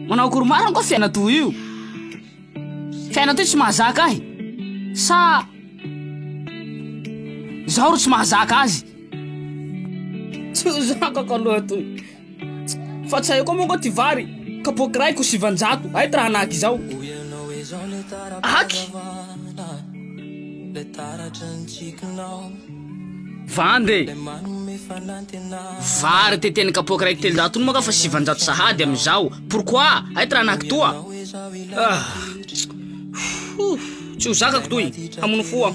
Manao akory marina koa fiaina toa io Fiaina toa tsy mahazaka ahy Sa Zaho ro tsy mahazaka azy Tsy ho zakako aloha toy Fa tsy hay koa moa ngo ty vary kapoaky raiko sivanjato hay tra hanaky izao. Hoy ianao izao le tara-pahazavana Le taratry ny tsikinao Vanda e! Le manome fanantenana Vary te teny kapoaky raiko telonjato iny moa nga fa sivanjato sahady am izao Pourquoi? Hay tra hanaky toa? Ah! Tsy ho zakako toy! Hamono fo aho.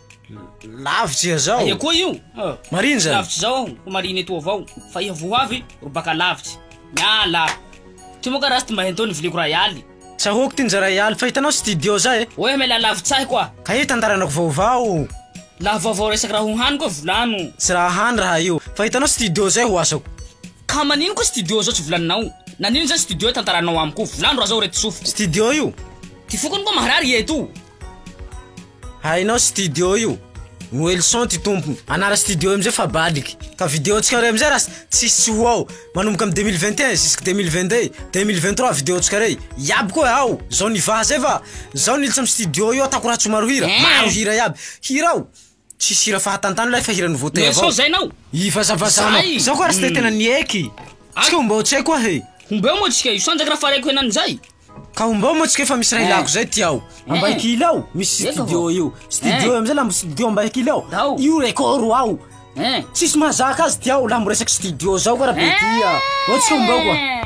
Lavitra iha zao. Aia koa io? Ah, Marina zany. Lavitra zao aho, ko marina eto avao. Fa iha voa avy, ro baka lavitra. Miala. Ty moa ka raha tsy mba henteo ny viliako ray aly. Tsahoako ty nja ray aly, fa hitanao studio zay e. Oe miala lavitra ahy koa. Ka io tantaranako vaovao. Laha vaovao resaky raha ho hany koa volano. Tsy raha hany raha io, fa hitanao studio zay ho asako. Ka manino koa studio zao tsy volaninao? Nanino zany studio tantaranao amiko? Volano raha zao re ty sofiko. Studio io? Ty foko any koa maharary iha etoa. Hainao studio io. Welson ty tompony. Anara studio io amizay fa baliky. Ka video antsika rey amizay ras tsisy ho ao. Manomboka am 2021 jusque 2022, 2023 video antsika rey. Iaby koa ao. Zao nivaha zay fa zao nilitsa am studio io atako ratsy maro hira. Maro hira iaby. Hirao. Tsisy hira fahatantana ilay fa hiran'i Voatay avao. Sao zaina aho. Ivazavazanao. Zay. Zao ko ary tsy dia tena nieky. Tsika ombao tsy hay koa he. Ombeo moa tsika io sanjaka raha faraiko henany zay. Ka ombao moa tsika efa misy raha ilako zay ty ao. Ambaikily ao misy studio io. Studio io amizay la mbo studio Ambaikily ao. Io record ao. Tsisy mahazaka azy ty ao la mbo resaky studio zao ko raha be tia. Ao tsika ombao ko a.